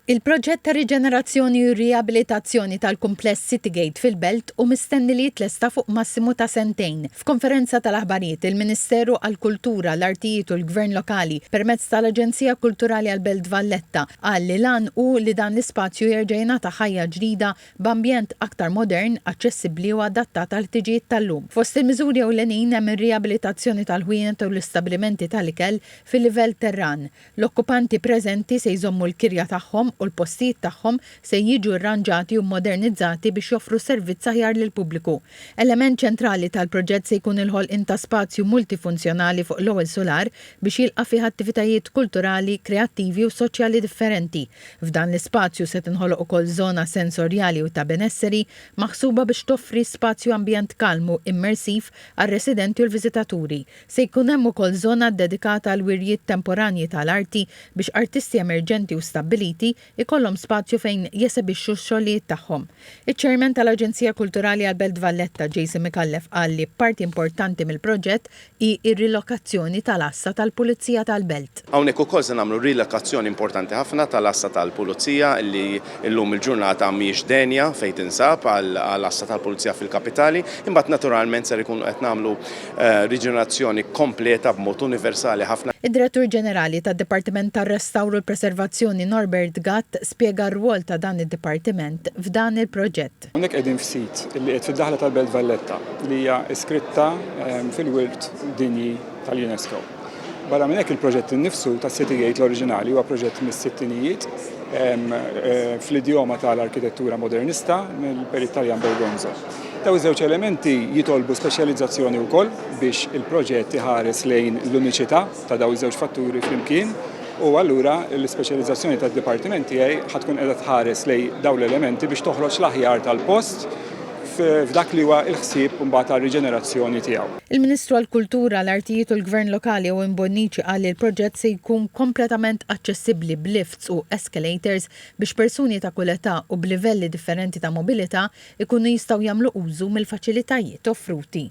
Il-proġett ta' riġenerazzjoni u riabilitazzjoni tal-kumpless Citygate fil-Belt hu mistenni li jitlesta fuq massimu ta' sentejn. F'konferenza tal-aħbarijiet, il-Ministeru għall-Kultura, l-Artijiet u l-Gvern Lokali, permezz tal-Aġenzija Kulturali għall-Belt Valletta, qal li l-għan hu li dan l-ispazju jerġa' jingħata ħajja ġdida b'ambjent aktar modern, aċċessibbli u adattat għall-ħtiġijiet tal-lum. Fost il-miżuri ewlenin hemm ir-riabilitazzjoni tal-ħwienet u l-istabbilimenti tal-ikel fil-livell terran, L-okkupanti preżenti se jżommu l-kirja tagħhom u l-postijiet tagħhom se jiġu rranġati u mmodernizzati biex joffru servizz aħjar lill-pubbliku. Element ċentrali tal-proġett se jkun il-ħolqien ta' spazju multifunzjonali fuq l-ewwel sular biex jilqa' fih attivitajiet kulturali, kreattivi u soċjali differenti. F'dan l-ispazju se tinħoloq ukoll żona sensorjali u ta' benesseri maħsuba biex toffri spazju ambjent kalmu immersiv għar-residenti u l-viżitaturi. Se jkun hemm ukoll żona ddedikata għall-wirjiet temporanji ta' l-arti biex artisti emerġenti u stabbiliti jkollhom spazju fejn jesebixxu x-xogħlijiet tagħhom. Iċ-Chairman ta' l-Aġenzija Kulturali għall-Belt Valletta, Jason Micallef qal li parti importanti mill-proġett hi r-rilokazzjoni ta' l-Għassa tal-Pulizija tal-Belt. Hawnhekk ukoll se nagħmlu rilokazzjoni importanti ħafna tal-Għassa tal-Pulizija li llum il-ġurnata mhijiex denja fejn tinsab għal Għassa tal-Pulizija fil-Kapitali. Imbagħad naturalment ser ikunu qed nagħmlu riġenerazzjoni kompleta b'mod universali ħafna. Id-Direttur Ġenerali tad-Dipartiment tar-Restawr u l-Preservazzjoni Norbert Gatt spjega r-rwol ta' dan id-dipartiment f'dan il-proġett. Għeluq. Hawnhekk qegħdin f'sit li qiegħed fid-daħla tal-Belt Valletta li hija iskritta fil-Wirt Dinji tal-UNESCO. Barra minn hekk il-proġett innifsu tas-City Gate l-oriġinali huwa proġett mis-sittinijiet fl-idjoma tal-arkitettura modernista mill-Perit Taljan Bergonzo. Dawn iż-żewġ elementi jitolbu speċjalizzazzjoni wkoll biex il-proġett iħares lejn l-uniċità ta' dawn iż-żewġ fatturi flimkien. U allura l-ispeċjalizzazzjoni tad-dipartiment tiegħi ħa tkun qiegħda tħares lejn dawn l-elementi biex toħroġ l-aħjar tal-post f'dak li huwa l-ħsieb imbagħad għar-riġenerazzjoni tiegħu. Il-Ministru għall-Kultura, l-Artijiet u l-Gvern Lokali Owen Bonnici qal li l-proġett se jkun kompletament aċċessibbli b'lifts u escalators biex persuni ta' kull età u b'livelli differenti ta' mobilità jkunu jistgħu jagħmlu użu mill-faċilitajiet offruti.